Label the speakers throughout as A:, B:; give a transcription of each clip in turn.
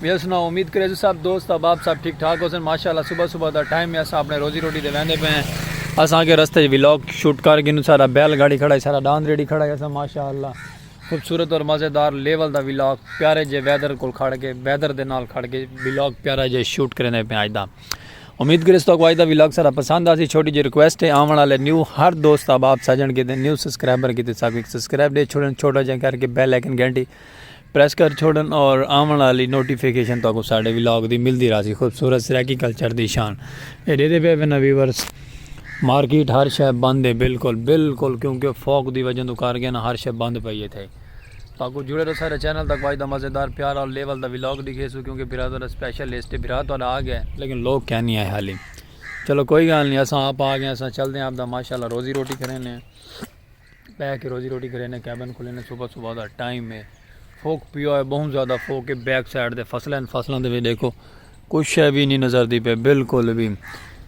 A: بیا سناؤ امید کریزو سب دوست احباب سب ٹھیک ٹھاک ہوسن ماشاءاللہ صبح صبح دا ٹائم ہے اساں اپنے روزی روٹی دے ویندے پئے ہیں اساں اگے رستے وچ ولاگ شوٹ کر گھنوں سارا بیل گاڑی کھڑا ہے سارا ڈاند ریڈی کھڑا ہے اساں ماشاءاللہ خوبصورت اور مزیدار لیول دا ولاگ پیارے جے ویدر کول کھڑ کے ویدر دے نال کھڑ کے ولاگ پیارا جے شوٹ کریندے پئے اج دا امید کرے تو کو اج دا ولاگ سارا پسند آسی چھوٹی جی ریکویسٹ ہے آون والے نیو ہر دوست احباب سجن کیتے نیو سبسکرائبر کیتے ساکو ایک سبسکرائب دے چھوڑن چھوٹا جے کر کے بیل آئیکن گھنٹی پریس کر چھوڑن اور آون آلی نوٹیفیکیشن تہاکوں ساڈے ولاگ دی ملدی راہسی خوبصورت سرائیکی کلچر دی شان اے ڈیدے پئے وینا ویورز مارکیٹ ہر شے بند ہے بالکل بالکل کیونکہ فوک دی وجہ تو کر گیا نا ہر شے بند پئی ہے تھے تاکو جڑے رہو سارے چینل تک واج دا مزیدار پیار اور لیول دا ولاگ دکھے سو کیونکہ برا تہاڈا سپیشل لسٹ برا تہاڈا آ گیا لیکن لوگ کیا نہیں آئے حالی چلو کوئی گال نہیں اساں آپ آ گئے اساں چلدے ہیں آپ دا ماشاءاللہ روزی روٹی کرینے ہیں بہ کے روزی روٹی کرینے کیبن کھلینے صبح صبح دا ٹائم ہے فوک پیا ہے بہت زیادہ فوک ہے بیک سائیڈ دے فصلیں فصلیں دے بھی دیکھو کوئی شے بھی نہیں نظر دی پے بالکل بھی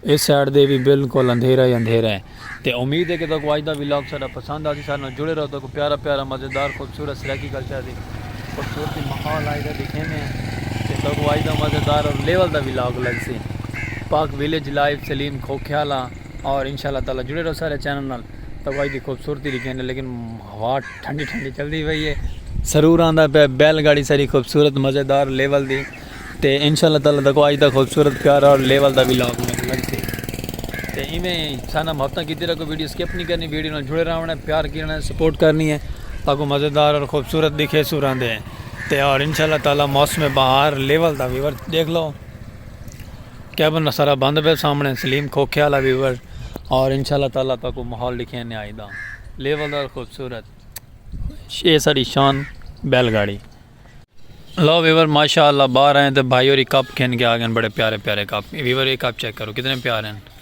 A: اس سائیڈ دے بھی بالکل اندھیرا ہی اندھیرا ہے تے امید ہے کہ تکو اج دا ولاگ سارا پسند آسی سارے جڑے رہو تکو پیارا پیارا مزیدار خوبصورت سرائیکی کلچر دی خوبصورتی ماحول آئی دے دکھینے تے تکو اج دا مزیدار اور لیول دا ولاگ لگ سی پاک ویلیج لائیو سلیم کھوکھیالا اور انشاءاللہ تعالی جڑے رہو سارے چینل نال توائی دی خوبصورتی دی گھن لیکن ہوا ٹھنڈی ٹھنڈی چل دی وئی ہے سرور آندہ پہ بیل گاڑی ساری خوبصورت مزیدار لیول دی تے انشاءاللہ تعالی تکو آج دا خوبصورت پیارا اور لیول دا بھی لاکھ میں لگتے تے ہی میں سانا مہتہ کی تیرہ کو ویڈیو سکیپ نہیں کرنی ویڈیو نال جڑے رہا ہے پیار کی رہا ہے سپورٹ کرنی ہے تاکو مزیدار اور خوبصورت دکھے سور آندے ہیں تے اور انشاءاللہ تعالی موسم بہار لیول دا ویور دیکھ لو کیبن دا سارا بند پیا سامنے سلیم کھوکھے والا ویور اور انشاءاللہ تعالی تاکو ماحول دکھے نے آئی دا لیول دا خوبصورت شے ساری شان بیل گاڑی لو ویور ماشاءاللہ باہر آئے تے بھائی اور ایک کپ کھین کے آگن بڑے پیارے پیارے کپ ویور ایک کپ چیک کرو کتنے پیارے ہیں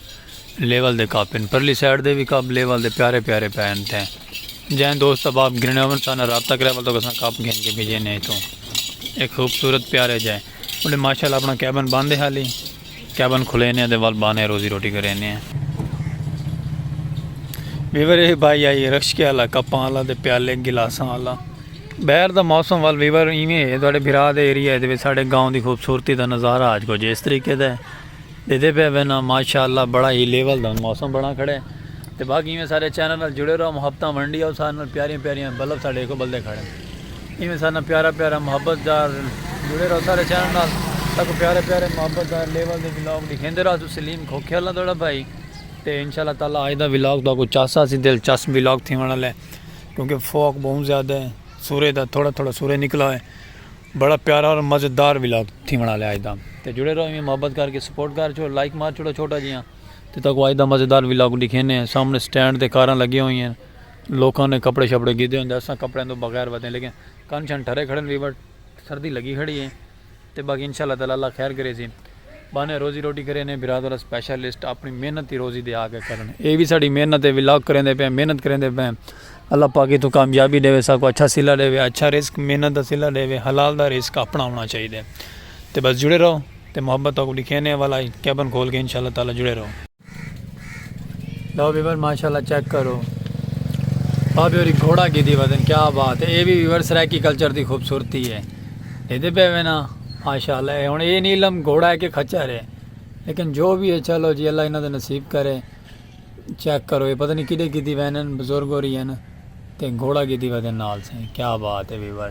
A: level they cup in Parli side دے بھی کپ لیول دے پیارے پیارے پہن تھے جائیں دوست اب آپ گرنے ہوئے سانا رابطہ کرے بلتو کسان کپ کھین کے بھیجے نہیں تو ایک خوبصورت پیارے جائیں انہیں ماشاءاللہ اپنا کیبن باندھے حالی کیبن کھلے نے دے ول بانے روزی روٹی کرے نے ویور اے بھائی آئی رکش کے اللہ کپاں اللہ دے پیالے گلاساں اللہ بہر دا موسم ول ویور ایویں ہے تھوڑے بھرا دے ایریا دے ساڑے گاؤں دی خوبصورتی دا نظارہ آج کو جس طریقے دے دے دے پہ وینا ماشاءاللہ بڑا ہی لیول دا موسم بڑا کھڑے تے باقی ایویں سارے چینل جڑے رہو محبتاں ونڈی آؤ سارے پیاریاں پیاریاں بلب ساڑے کو بلدے کھڑے ایویں سارے نال پیارا پیارا محبت دار جڑے رہو سارے چینل نال ساکو پیارے پیارے محبت دار لیول دے ولاگ ڈکھیندے رہو تو سلیم کھوکھے والا تہاڈا بھائی تے انشاءاللہ تعالی اج دا ولاگ تہاکو چاسا سی دلچسپ ولاگ تھیون والا ہے کیونکہ فوک بہت زیادہ ہے سورج دا تھوڑا تھوڑا سورج نکلا ہے بڑا پیارا اور مزیدار ولاگ تھی بنا لیا اجدا تے جڑے رہو میں محبت کر کے سپورٹ کر چھو لائک مار چھوڑو چھوٹا جیاں تے تاکو اجدا مزیدار ولاگ دکھینے ہیں سامنے سٹینڈ تے کاراں لگی ہوئی ہیں لوکاں نے کپڑے شپڑے گھدے ہوندے اساں کپڑیاں توں بغیر ودے لیکن کن شن ٹھرے کھڑے ہیں بٹ سردی لگی کھڑی ہے تے باقی انشاءاللہ تعالی اللہ خیر کرے سی بانے روزی روٹی کرے نے برادر اسپیشلسٹ اپنی محنت دی روزی دے آگے کرن اے وی ساڈی محنت ہے ولاگ کریں دے پے محنت کریں دے پے اللہ پاک تو کامیابی دے وے سا کو اچھا سلا دے وے اچھا رزق محنت دا سلا دے وے حلال دا رزق اپنا ہونا چاہیے دے تے بس جڑے رہو تے محبت کو لکھے نے والا کیبن کھول کے انشاءاللہ تعالی جڑے رہو لو ویور ماشاءاللہ چیک کرو بابے ہوری گھوڑا کی دی وزن کیا بات ہے اے بھی ویور سرائیکی کلچر دی خوبصورتی ہے اے دے پہ وینا ماشاءاللہ اے ہن اے نیلم گھوڑا ہے کہ کھچر ہے لیکن جو بھی ہے چلو جی اللہ انہاں دے نصیب کرے چیک کرو اے پتہ نہیں کدے کی دی وینن بزرگ ہو رہی ہیں تے گھوڑا کی دی وزن نال سے کیا بات ہے viewer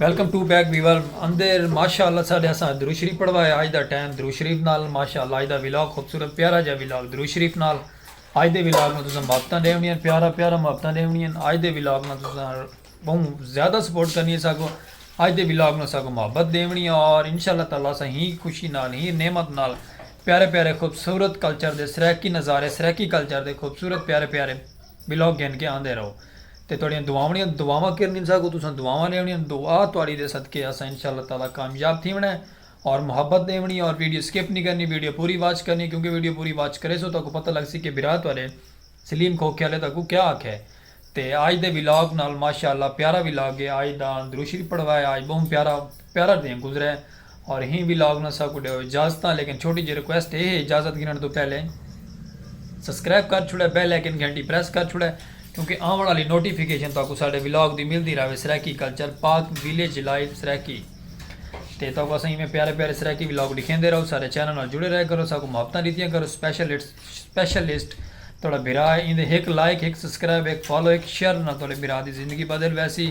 A: welcome to back viewer اندر ماشاءاللہ ساڈے اساں درود شریف پڑھوایا اج دا ٹائم درود شریف نال ماشاءاللہ اج دا ولاگ خوبصورت پیارا جا ولاگ درود شریف نال اج دے ولاگ نال تساں محبتاں ڈیونی ہیں پیارا پیارا محبتاں ڈیونی ہیں اج دے ولاگ نال تساں بہوں زیادہ سپورٹ کرنی ہے ساکو اج دے ولاگ نال ساکو محبت ڈیونی ہے اور انشاءاللہ تعالی اساں ہی خوشی نال ہی نعمت نال پیارے پیارے خوبصورت کلچر دے سرائیکی نظارے سرائیکی کلچر دے خوبصورت پیارے پیارے بلاک گھن کے آندے رہو تے تہاڈیاں دعاونڑیاں دعاواں کر گھنساں اگوں تساں دعاواں ڈیونڑیاں دعا تہاڈی دے صدقے اساں انشاءاللہ تعالی کامیاب تھیونڑاں ہے اور محبت ڈیونڑی اور ویڈیو سکپ نی کرنی ویڈیو پوری واچ کرنی کیونکہ ویڈیو پوری واچ کریسو تہاکوں پتہ لگ سی کہ بھرا تہاڈے سلیم کھوکھے آلے تہاکوں کیا آکھے تے آج دے ولاگ نال ماشاءاللہ پیارا ولاگ ہے آج دا درود شریف پڑھوائے آج بہوں پیارا پیارا دیں گزرے اور ہی وی لاگ نسا کو ڈیو اجازتاں لیکن چھوٹی جی ریکویسٹ اے ہے اجازت گھنن تو پہلے سبسکرائب کر چھوڑے بیل آئیکن گھنٹی پریس کر چھوڑے کیونکہ آون والی نوٹیفیکیشن تاکو ساڈے ولاگ دی ملدی رہے Saraiki culture Pak village life Saraiki تے تاکو اساں ایویں پیارے پیارے سرائیکی ولاگ دکھیندے رہو سارے چینل نال جڑے رہے کرو ساکو محبتاں دیتیاں کرو سپیشلسٹ سپیشلسٹ تہاڈا بھرا ہے ایندے ہک لائک ہک سبسکرائب ہک فالو ہک شیئر نال تہاڈے بھرا دی زندگی بدل ویسی